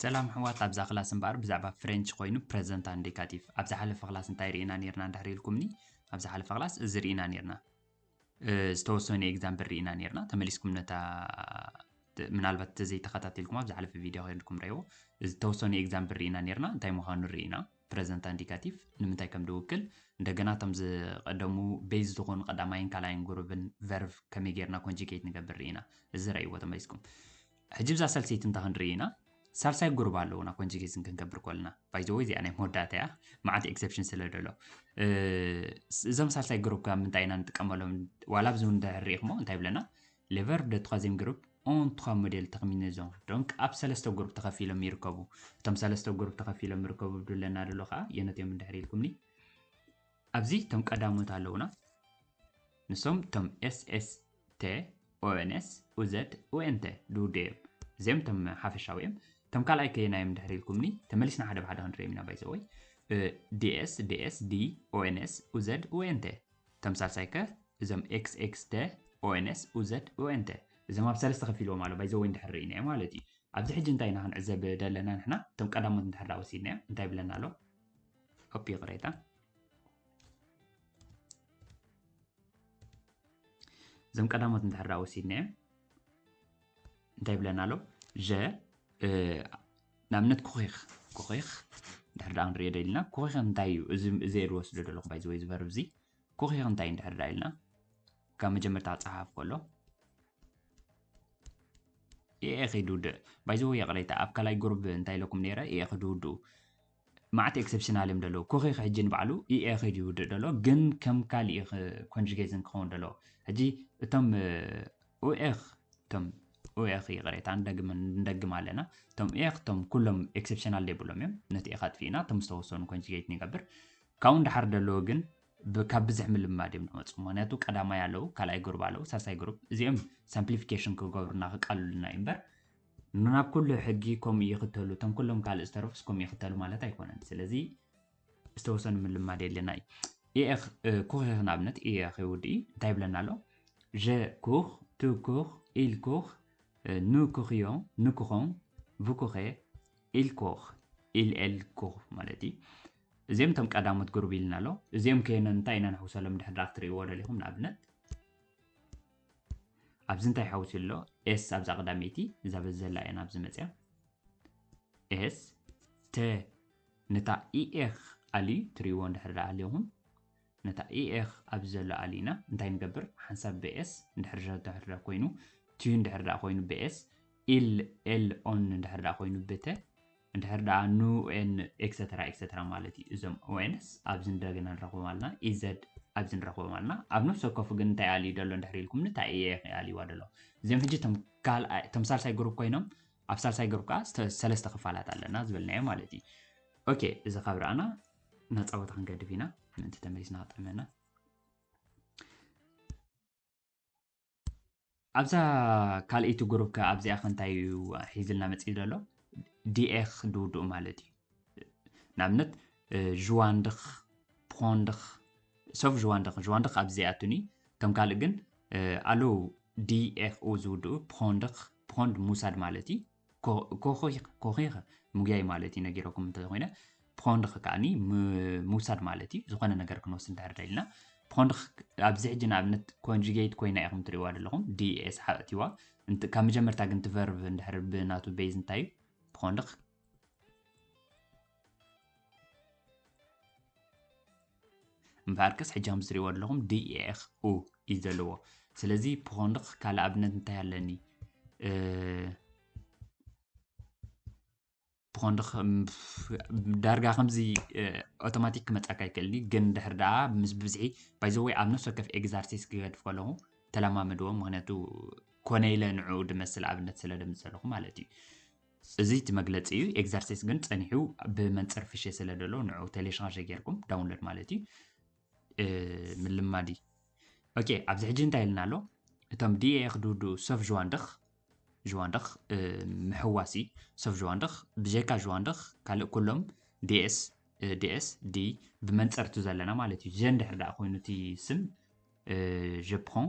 ሰላም ኣሕዋት ኣብዛ ክላስ እምበኣር ብዛዕባ ፍሬንች ኮይኑ ፕረዘንት ኣንዴካቲቭ ኣብ ዝሓለፈ ክላስ እንታይ ርኢና ነርና እንድሕር ኢልኩምኒ ኣብ ዝሓለፈ ክላስ እዚ ርኢና ነርና ዝተወሰኑ ኤግዛምፕል ርኢና ነርና ተመሊስኩም ነታ ምናልባት ተዘይተኸታተልኩም ኣብ ዝሓለፈ ቪድዮ ኮይንኩም ረእዎ ዝተወሰኑ ኤግዛምፕል ርኢና ነርና እንታይ ምዃኑ ርኢና ፕረዘንት ኣንዲካቲቭ ንምንታይ ከም ድውክል እንደገና እቶም ዝቀደሙ ቤዝ ዝኾኑ ቀዳማይን ካልኣይን ጉሩብን ቨርቭ ከመይ ጌርና ኮንጂኬት ንገብር ርኢና እዚ ረእይዎ ተመሊስኩም ሕጂ ብዛ ሳልሰይቲ እንታ ክንርኢ ኢና ሳልሳይ ጉሩብ ኣለውና ኮንጂኬትን ክንገብር ኮልና ባይዘወይ እዚኣ ናይ መወዳእታ እያ መዓት ኤክሰፕሽን ስለ ደሎ እዞም ሳልሳይ ጉሩብ ካብ ምንታይ ኢና ንጥቀመሎም ዋላ ብዚ ንድሕር ርኢኽሞ እንታይ ብለና Le verbe de troisième groupe ont trois modèles terminaison donc ኣብ ሰለስተ ጉሩፕ ተኸፊሎም ይርከቡ እቶም ሰለስተ ጉሩፕ ተኸፊሎም ይርከቡ ብድለና ደሎ ከዓ የነት እዮም እንድሕር ኢልኩምኒ ኣብዚ እቶም ቀዳሞት ኣለውና ንሶም እቶም ኤስኤስተ ኦኤንኤስ ኡዘድ ኦኤንተ ድውዱ እዮም እዚኦም እቶም ሓፈሻዊ እዮም እቶም ካልኣይ ከየና እዮም እንድሕር ኢልኩምኒ ተመሊስና ሓደ ብሓደ ክንሪኦም ኢና ባይዘወይ ዲኤስ ዲኤስ ዲ ኦኤንኤስ ኡዘድ ኦኤንተ ተምሳሳይ ከ እዞም ኤክስ ኤክስ ደ ኦኤንኤስ ኡዘድ ኡኤንተ እዞም ኣብ ሰለስተ ከፊልዎም ኣሎ ባይ ዘወይ እንድሕር ርኢናዮ ማለት እዩ ኣብዚ ሕጂ እንታይ ኢና ክንዕዘብ ደለና ንሕና እቶም ቀዳሞት እንድሕር ዳ ወሲድናዮም እንታይ ይብለና ኣሎ ኦፕ ይቕሬታ እዞም ቀዳሞት እንድሕር ዳ ወሲድናዮም እንታይ ይብለና ኣሎ ዠ ንኣብነት ኩኺኽ ኩኺኽ እንድሕር ደኣ ክንርእዮ ደሊና ኩኺኽ እንታይ እዩ እዚ እዚ ዝወስዶ ዘለኹ ባይ ዝወይ ዝበርብ እዚ ኩኺኽ እንታይ እዩ እንድሕር ደኣ ኢልና ካብ መጀመርታ ክፀሓፍ ከሎ ኤኤ ከይድውድእ ባይ ዘወይ የቕሬታ ኣብ ካልኣይ ጉሩብ እንታይ ኢለኩም ነይረ ኤኤ ክድውድኡ ማዓት ኤክሰፕሽናል እዮም ደለዉ ኮኺክ ሕጂ ንባዕሉ EA'ኺ ድዩ ዝውድእ ደሎ ግን ከም ካልእ እዩ ኮንጁጌዝን ክኸውን ደሎ ሕጂ እቶም ኡኤኽ እቶም ኡኤኽ ይቕሬታ ንደግም ንደግም ኣለና እቶም ኡኤኽ እቶም ኩሎም ኤክሰፕሽናል ዘይብሎም እዮም ነቲ ኤኻ ኣጥፊእና እቶም ዝተወሰኑ ኮንጁጌት ንገብር ካብኡ ንደሓር ደለዉ ግን ካብ ብዝሕ ምልምማድ እዮም ዝመፁ ምክንያቱ ቀዳማይ ኣለዉ ካልኣይ ግሩብ ኣለዉ ሳልሳይ ግሩብ እዚኦም ሳምፕሊፊኬሽን ክገብሩና ክቃልሉና እዩ እምበር ናብ ኩሉ ሕጊ ከምኡ ይኽተሉ፣ እቶም ኩሎም ካልእ ዝተረፉስ ከምኡ ይኽተሉ ማለት ኣይኮነን። ስለዚ ዝተወሰኑ ምልማድ የድልየና እዩ። ኢኤኽ ኩኺኽ ንኣብነት ኢኤኽ ይውድኢ እንታይ ይብለና ኣሎ? ዠ ኩኽ፣ ቱ ኩኽ፣ ኢል ኩኽ፣ ኑ ኩኽዮ፣ ን ኩኾም፣ ቭ ኩኼ፣ ኢል ኮኽ፣ ኢል ኤል ኩኽ ማለት እዩ። እዚኦም እቶም ቀዳሞት ግሩብ ኢልና ኣሎ። እዚኦም ከየኖ እንታይ ኢና ንሕውሰሎም ድሕሪ ክትርእይዎ ደሊኹም ንኣብነት ኣብዚ እንታይ ሓዊሱ ኣሎ ኤስ ኣብዛ ቀዳመይቲ እዛ በዚ ዘላ እያ ናብዚ መፅያ ኤስ ተ ነታ ኢኤኽ ኣልዩ ትሪዎ እንድሕር ዳ ኣልኹም ነታ ኢኤኽ ኣብዚ ዘሎ ኣልና እንታይ ንገብር ሓንሳብ ብኤስ እንድሕር ድሕር ዳ ኮይኑ ትዩ እንድሕር ዳ ኮይኑ ብኤስ ኢል ኤል ኦን እንድሕር ዳ ኮይኑ ብተ እንድሕር ደኣ ን ን ኤክሰተራ ኤክሰተራ ማለት እዩ። እዞም ONS ኣብዚ እንደገና ንረኽቦም ኣልና። EZ ኣብዚ ንረኽቦም ኣልና። ኣብ ነፍሲ ወከፉ ግን እንታይ ኣልዩ ደሎ እንድሕር ኢልኩምኒ እንታይ እየ ኢኺ ኣልይዋ ደሎ። እዚኦም ሕጂ እቶም ካልኣይ እቶም ሳልሳይ ግሩፕ ኮይኖም ኣብ ሳልሳይ ግሩፕ ከኣ ስተ- ሰለስተ ክፋላት ኣለና ዝበልናዮ ማለት እዩ። ኦኬ እዚ ካብ ረኣና ናጻ ቦታ ክንገድፍ ኢና ምእንቲ ተመሊስና ክጥዕመና። ኣብዛ ካልኣይቲ ግሩፕ ከ ኣብዚኣ ከ እንታይ እዩ ሒዝልና መፅኢ ዘሎ ዲኤኽ ድውድኡ ማለት እዩ ንኣብነት ዥዋንድኽ ፖንድኽ ሰብ ዥዋንድኽ ዥዋንድኽ ኣብዚ ዘይኣቱን እዩ ከም ካልእ ግን ኣለዉ ዲኤኽኡ ዝውድኡ ፖንድኽ ፖንድ ሙሳድ ማለት እዩ ኮኺኸ ምጉያይ ማለት እዩ ነጊረኩም እንተኮይነ ፕኾንድኽ ከዓኒ ምውሳድ ማለት እዩ ዝኾነ ነገር ክንወስድ እንድሕር ደልና ፕኾንድኽ ኣብዚ ሕጂ ንኣብነት ኮንጁጌት ኮይና ኢኹም ትሪእዋ ዘለኹም ዲኤስ ሓእትዋ ካብ መጀመርታ ግን ትቨርቭ እንድሕር ብናቱ ቤዝ እንታይ እዩ ፕኾንድኽ እምበኣርከስ ሕጂ ከም ትሪእዎ ኣለኹም ድኤኽ ኡ እዩ ዘለዎ ስለዚ ፖኾንኽ ካልእ ኣብነት እንታይ ኣለኒ ፖኾንኽ ዳርጋ ከምዚ ኦቶማቲክ ክመፃካ ይክእል እዩ ግን ድሕር ደኣ ምስ ብዝሒ ባይዘወይ ኣብ ነፍሲ ወከፍ ኤግዛርሲስ ክገድፍ ከለኹ ተለማመድዎ ምክንያቱ ኮነ ኢለ ንዕኡ ድመስል ኣብነት ስለ ደምፅ ዘለኹ ማለት እዩ እዚ እቲ መግለጺ እዩ ኤግዘርሲስ ግን ጸኒሑ ብመንጽር ፍሸ ስለ ደሎ ንዑ ቴሌሻርጀ ጌርኩም ዳውንሎድ ማለት እዩ ምልማድ እዩ ኦኬ ኣብዚ ሕጂ እንታይ ኢልና ኣሎ እቶም ዲኤ ክድውድኡ ሰፍ ዥዋንድኽ ዥዋንድኽ ምሕዋሲ ሰፍ ዥዋንድኽ ብጀካ ዥዋንድኽ ካልእ ኩሎም ዲኤስ ዲኤስ ዲ ብመንጽርቱ ዘለና ማለት እዩ ጀን ድሕር ደኣ ኮይኑ እቲ ስም ጀፕሮን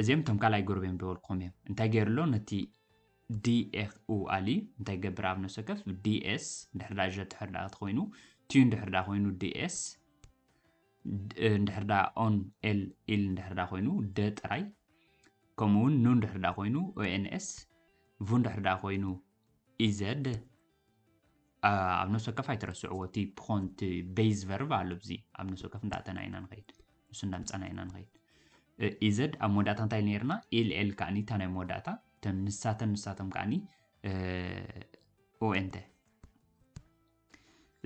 እዚኦም እቶም ካልኣይ ጎረቤም ደወልኩም እዮም እንታይ ገይሩ ኣሎ ነቲ ዲኤፍኡ ኣልዩ እንታይ ይገብር ኣብ ነፍሲ ወከፍ ዲኤስ ድሕር ዳ ዠ ድሕር ዳ ኮይኑ ቲዩ ድሕር ዳ ኮይኑ ዲኤስ ድሕር ዳ ኦን ኤል ኢል ድሕር ዳ ኮይኑ ደ ጥራይ ከምኡውን ኑን ድሕር ዳ ኮይኑ ኦኤንኤስ ቡን ድሕር ዳ ኮይኑ ኢዘድ ኣብ ነፍሲ ወከፍ ኣይትረስዕዎ እቲ ፕኾን እቲ ቤዝ ቨርብ ኣሎ ብዚ ኣብ ነፍሲ ወከፍ እንዳእተና ኢና ንኸይድ ንሱ እንዳምፀና ኢና ንኸይድ ኢዘድ ኣብ መወዳእታ እንታይ ነርና ኤልኤል ከዓኒ እታ ናይ መወዳእታ እተን ንሳተን ንሳቶም ከዓኒ ኦኤንተ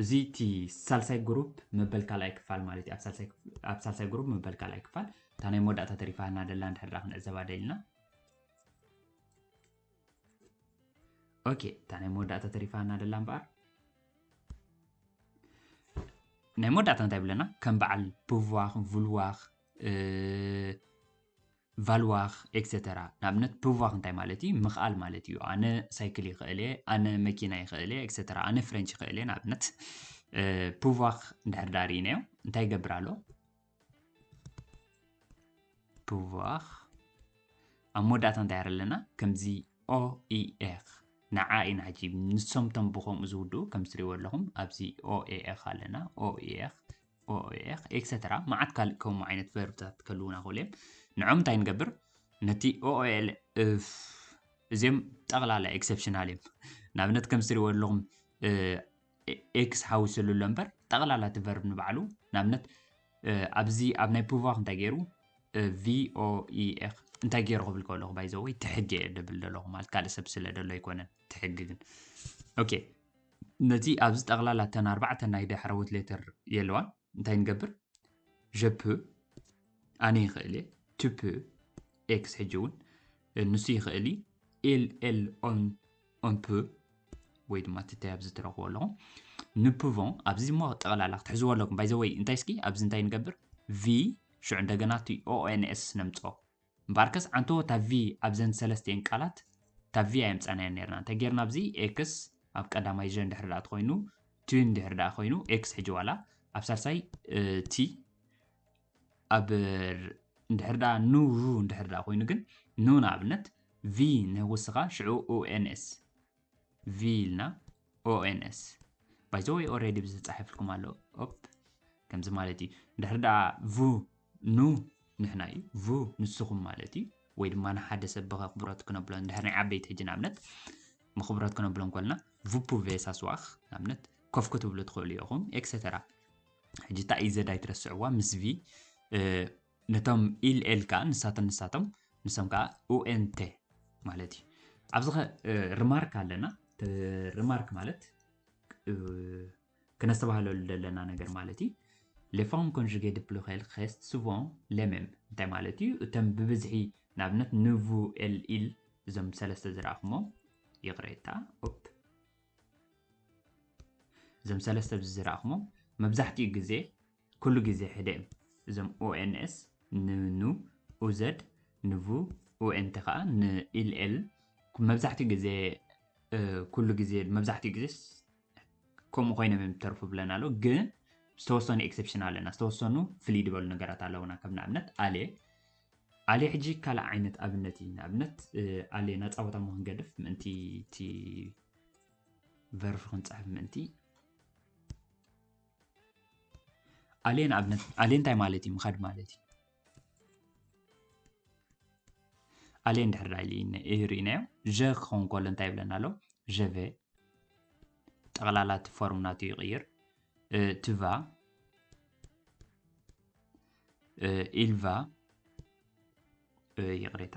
እዚ እቲ ሳልሳይ ግሩፕ መበል ካልኣይ ክፋል ማለት እዩ ኣብ ሳልሳይ ግሩፕ መበል ካልኣይ ክፋል እታ ናይ መወዳእታ ተሪፋና ደላ ንድሕራ ክንዕዘባ ደልና ኦኬ እታ ናይ መወዳእታ ተሪፋና ደላ እምበኣር ናይ መወዳእታ እንታይ ብለና ከም በዓል ብዋኽ ቭልዋኽ ቫልዋኽ ኤክሰተራ ንኣብነት ብዋኽ እንታይ ማለት እዩ ምኽኣል ማለት እዩ ኣነ ሳይክል ይኽእል እየ ኣነ መኪና ይኽእል እየ ኤክሰተራ ኣነ ፍሬንች ይኽእል እየ ንኣብነት ብዋኽ እንድሕር ዳር ኢነዮ እንታይ ይገብር ኣሎ ፕቫኽ ኣብ መወዳእታ እንታይ ኣለና ከምዚ ኦኢኤኽ ንዓ ኢና ሕጂ ንሶም ቶም ብከምኡ ዝውድኡ ከም ዝትሪእዎ ኣለኹም ኣብዚ ኦኤኤኽ ኣለና ኦኤኤኽ ኦኤኤኽ ኤክሰተራ መዓት ካልእ ከምኡ ዓይነት ቨርብታት ከልውና ክእሉ እዮም ንዖም እንታይ ንገብር ነቲ ኦኤል እዚኦም ጠቕላላ ኤክሰፕሽናል እዮም ንኣብነት ከም ዝትሪእዎ ኣለኹም ኤክስ ሓዊስሉ ኣሎ እምበር ጠቕላላ እቲ ቨርብ ንባዕሉ ንኣብነት ኣብዚ ኣብ ናይ ፑቫኽ እንታይ ገይሩ ቪኦኢኤክ እንታይ ገይሩ ክብል ከለኹ ባይዘወይ ትሕጊ እየ ደብል ዘለኹ ማለት ካልእ ሰብ ስለ ደሎ ኣይኮነን ትሕጊ ግን ኦኬ ነቲ ኣብዚ ጠቕላላ እተን ኣርባዕተ ናይ ዳሕረዎት ሌተር የለዋን እንታይ ንገብር ዠፕ ኣነ ይኽእል እየ ቱፕ ኤክስ ሕጂ እውን ንሱ ይኽእል እዩ ኤል ኤል ኦን on peut ወይ ድማ እቲ ታይ ኣብዚ ትረኽቦ ኣለኹም ንፕቮን ኣብዚ እሞ ጠቕላላ ክትሕዝዎ ኣለኩም ባይ ዘወይ እንታይ እስኪ ኣብዚ እንታይ ንገብር ቪ ሽዑ እንደገና እቲ ኦኤንኤስ ነምፅኦ እምበኣርከስ ዓንቶ እታ ቪ ኣብዘን ሰለስተኤን ቃላት እታ ቪ ኣየምፃናያን ነርና እንታይ ጌርና ኣብዚ ኤክስ ኣብ ቀዳማይ ዠ እንድሕር ዳኣ ተኮይኑ ቲ እንድሕር ዳኣ ኮይኑ ኤክስ ሕጂ ዋላ ኣብ ሳልሳይ ቲ ኣብ እንድሕር ዳኣ ኑ እንድሕር ዳኣ ኮይኑ ግን ኑ ንኣብነት V ናይ ወስኻ ሽዑ ONS V ኢልና ONS ባይ ዘ ወይ ኦልሬዲ ብዝተጻሒፍልኩም ኣሎ ኦፕ ከምዚ ማለት እዩ እንድሕር ደኣ ቭ ኑ ንሕና እዩ ቭ ንስኹም ማለት እዩ ወይ ድማ ንሓደ ሰብ ብክብረት ክነብሎ እንድሕር ናይ ዓበይቲ ሕጂ ንኣብነት ምክብረት ክነብሎ እንኮልና ቭፑ ቬሳስዋኽ ንኣብነት ኮፍ ክትብሉ ትኽእሉ ኢኹም ኤክሰተራ ሕጂ እታ ኢዘድ ኣይትረስዕዋ ምስ ቪ ነቶም ኢል ኤል ከኣ ንሳተን ንሳቶም ንሶም ከኣ ኡኤንቴ ማለት እዩ ኣብዚ ኸ ርማርክ ኣለና ርማርክ ማለት ክነስተባህለሉ ዘለና ነገር ማለት እዩ ሌፎርም ኮንጅጌ ድፕሉኸል ኸስት ሱቮን ሌሜም እንታይ ማለት እዩ እቶም ብብዝሒ ንኣብነት ንቡ ኤል ኢል እዞም ሰለስተ ዝረኣኹሞ ይቕሬታ ኦፕ እዞም ሰለስተ ዝረኣኹሞ መብዛሕትኡ ግዜ ኩሉ ግዜ ሕደ እም እዞም ኡኤንኤስ ን ኑ ኡዘድ ን ቭ ኡኤንቲ ከኣ ን ኢል ኤል መብዛሕትኡ ግዜ ኩሉ ግዜ መብዛሕትኡ ግዜስ ከምኡ ኮይኖም እዮም ዝተርፉ ብለን ኣሎ ግን ዝተወሰኑ ኤክሰፕሽን ኣለና ዝተወሰኑ ፍልይ ዝበሉ ነገራት ኣለውና ከም ንኣብነት ኣሌ ኣሌ ሕጂ ካልእ ዓይነት ኣብነት እዩ ንኣብነት ኣሌ ናፃወታ ሞ ክንገድፍ ምእንቲ እቲ ቨርፍ ክንፅሕፍ ምእንቲ ኣልየን ኣብነት ኣልየን እንታይ ማለት እዩ ምኻድ ማለት እዩ ኣልየን ድሕር ርኢናዮ ዠ ክኸውን ከሎ እንታይ ይብለና ኣሎ ዠቨ ጠቕላላ እቲ ፎርም ናቱ ይቕይር ትቫ ኢልቫ ይቕሬታ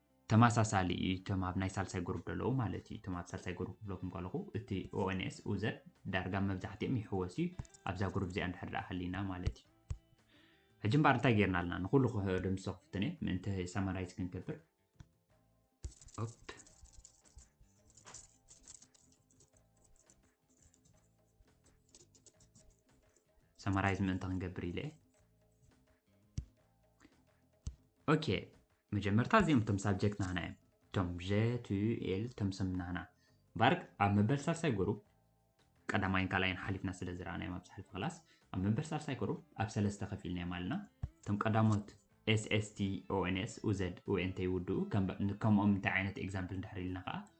ተማሳሳሊ እዩ እቶም ኣብ ናይ ሳልሳይ ጉሩብ ደለዉ ማለት እዩ እቶም ኣብ ሳልሳይ ጉሩብ ክብለኩም ከለኹ እቲ ኦኤንኤስ ኡዘር ዳርጋ መብዛሕትኦም ይሕወስ እዩ ኣብዛ ጉሩብ እዚኣ እንድሕር ደኣ ሃሊና ማለት እዩ ሕጂ እምበኣር እንታይ ጌርና ኣለና ንኩሉ ክሕዶ ምስ ክፍትን እየ ምእንቲ ሰማራይዝ ክንገብር ኦፕ ሰማራይዝ ምእንቲ ክንገብር ኢለ ኦኬ መጀመርታ እዚኦም እቶም ሳብጀክት ናህና እዮም እቶም ጀቱኤል እቶም ስም ናህና ባርክ ኣብ መበል ሳልሳይ ጉሩብ ቀዳማይን ካልኣይን ሓሊፍና ስለ ዝረኣናዮም ኣብ ዝሓልፈ ክላስ ኣብ መበል ሳልሳይ ጉሩብ ኣብ ሰለስተ ከፊልናዮም ኣለና እቶም ቀዳሞት ኤስኤስቲኦንኤስ ኡዘድ ኡኤንተ ይውድኡ ከምኦም እንታይ ዓይነት ኤግዛምፕል እንድሕር ኢልና ከዓ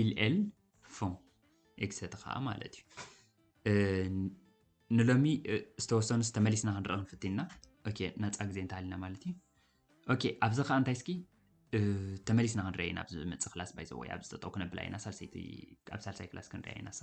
ኢልኤል ፎም ኤግሰቲ ከዓ ማለት እዩ ንሎሚ ዝተወሰኑ ዝተመሊስና ክንርኢ ክንፍትንና ኦኬ ነፃ ግዜ እንተሃሊና ማለት እዩ ኦኬ ኣብዚ ከዓ እንታይ እስኪ ተመሊስና ክንርኢ ኢና ኣብዚ ዝመፅእ ክላስ ባይዘወይ ኣብዚ ጠጠው ክነብላ ኢና ሳልሰይቲ ኣብ ሳልሳይ ክላስ ክንሪኣ ኢና ሳ